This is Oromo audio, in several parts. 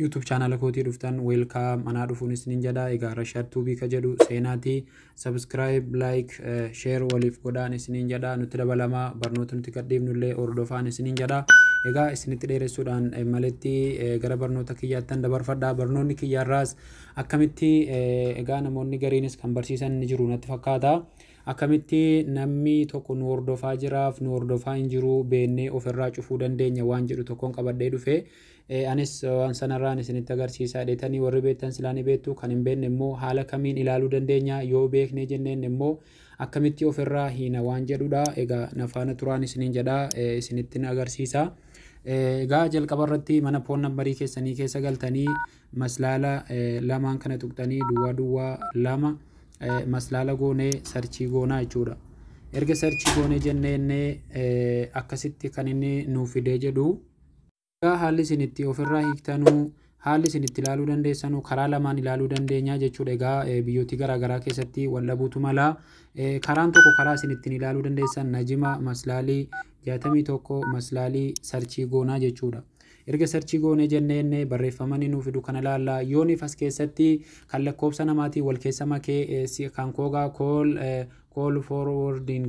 YouTube chaanaala kootii dhuftan welcome anaa dhufuun isinin jedha egaa Rashaad Tuubii ka jedhu seenaati subscribe like eh, share waliif godhaan isinin jedha nutti dabalamaa barnoota nuti gadhiifnu illee hordofaan isinin jedha egaa isinitti dheeressuudhaan eh, maletti eh, gara barnoota kiyyaattan dabarfadha barnoonni kiyyaarraas akkamitti eh, egaa namoonni gariinis kan barsiisan ni jiru natti fakkaata akkamitti namni tokko nu hordofaa jiraaf nu hordofaa hin jiru beennee ofirraa cufuu dandeenya waan jedhu tokkoon qabadhee dhufe Ee anis waan sanarraan isinitti agarsiisa. Dheetanii warri beektan silaa ni beektu, kan hin beekne immoo haala kamiin ilaaluu dandeenya? Yoo beeknee jenneen immoo akkamitti of irraa hiina waan jedhu dha. Egaa na faana turaan isiniin jedha, isinittin agarsiisa. Egaa jalqaba irratti mana poon nambarii keessanii keessa galtanii maslaala lamaan kana tuqxanii duwwaa duwwaa lama maslaala goonee sarchii goonaa jechuudha. Erga sarchii goonee jennee innee akkasitti kan inni nuuf fidee jedhu Egaa haalli isin itti ofirraa hiiktanuu haalli isin itti ilaaluu dandeessanuu karaa lamaan ilaaluu dandeenya jechuudha. Egaa biyyooti garaagaraa keessatti wal dhabuutu mala. Karaan tokko karaa isin ittiin ilaaluu dandeessan najima maslaalii jaatamii tokko maslaalii sarchii goonaa jechuudha. Erga sarchii goonee jennee inni barreeffamanii nuuf fidu kana ilaalla. Yooniif as keessatti kan lakkoofsa namaatiin wal keessa makee kan koogaa kool kool forwarding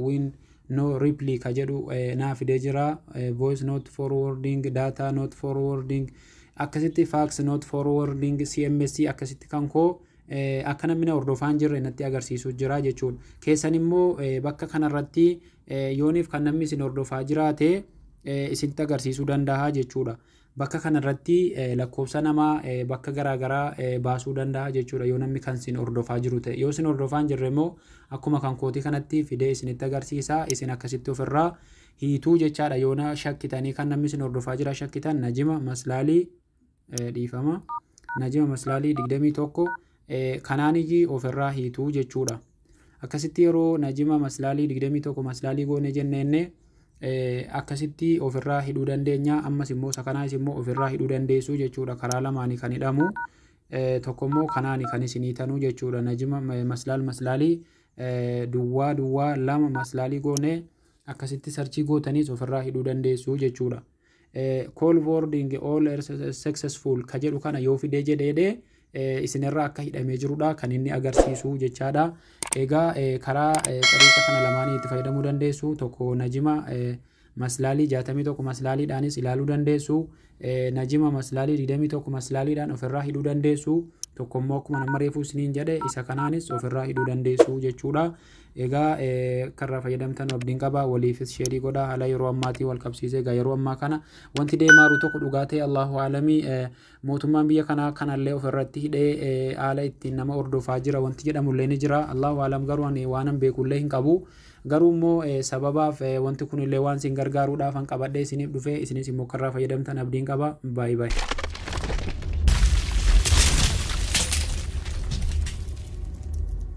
win no reply ka jedhu naa fidee jira voice not forwarding data not forwarding akkasitti fax not forwarding cms akkasitti kan koo akka namni na hordofaan jirre natti agarsiisu jira jechuudha keessan immoo bakka kanarratti yooniif kan namni isin hordofaa jiraate isinitti agarsiisuu danda'a jechuudha Bakka kana irratti lakkoofsa nama bakka garaa garaa baasuu danda'a jechuudha yoo namni kan isin hordofaa jiru ta'e. Yoo isin hordofaa hin jirre immoo akkuma kan kootii kanatti fidee isinitti agarsiisa. Isin akkasitti ofirraa hiituu jechaadha yoo na shakkitanii kan namni isin hordofaa jira shakkitan najima maslaalii dhiifama. Najima maslaalii 21 Kanaaniyyi of irraa hiitu jechuudha. Akkasitti yeroo najima maslaalii 21 maslaalii goone jenneenne akkasitti of irraa hidhuu dandeenya. Ammas immoo sakanaayis immoo of irraa hidhuu dandeessu jechuudha. Karaa lamaanii kan hidhamu. Tokko immoo kanaani kan isinii tanuu jechuudha. Najima maslaal maslaalii duwwaa duwwaa lama maslaalii goone akkasitti sarchii gootaniis of irraa hidhuu dandeessu jechuudha. Call wording all successful ka jedhu kana yoo fidee jedheedhee isinirraa akka hidhamee jirudha kan inni agarsiisu jechaadha. Egaa karaa xariiqa kana lamaanii itti fayyadamuu dandeessu tokko najima maslaalii 61 maslaaliidhaanis ilaaluu dandeessu najima maslaalii 21 maslaaliidhaan ofirraa hidhuu dandeessu tokko immoo akkuma nama reefuu isiniin jedhe isa kanaanis ofirraa hidhuu dandeessu jechuudha. Egaa akka irraa fayyadamtan abdiin qaba waliifis sheerii godha haala yeroo ammaatiin wal qabsiisee egaa yeroo ammaa kana wanti deemaa jiru tokko dhugaa ta'e Allahu aalamii mootummaan biyya kanaa kanallee ofirratti hidhee haala ittiin nama hordofaa jira wanti jedhamullee ni jira Allahu aalam garuu ani waanan beekullee hin qabu garuu immoo sababaaf wanti kunillee waan isin gargaaruudhaaf an qabadhee isiniif dhufee isinis immoo akka irraa fayyadamtan abdiin qaba baay'ee baay'ee.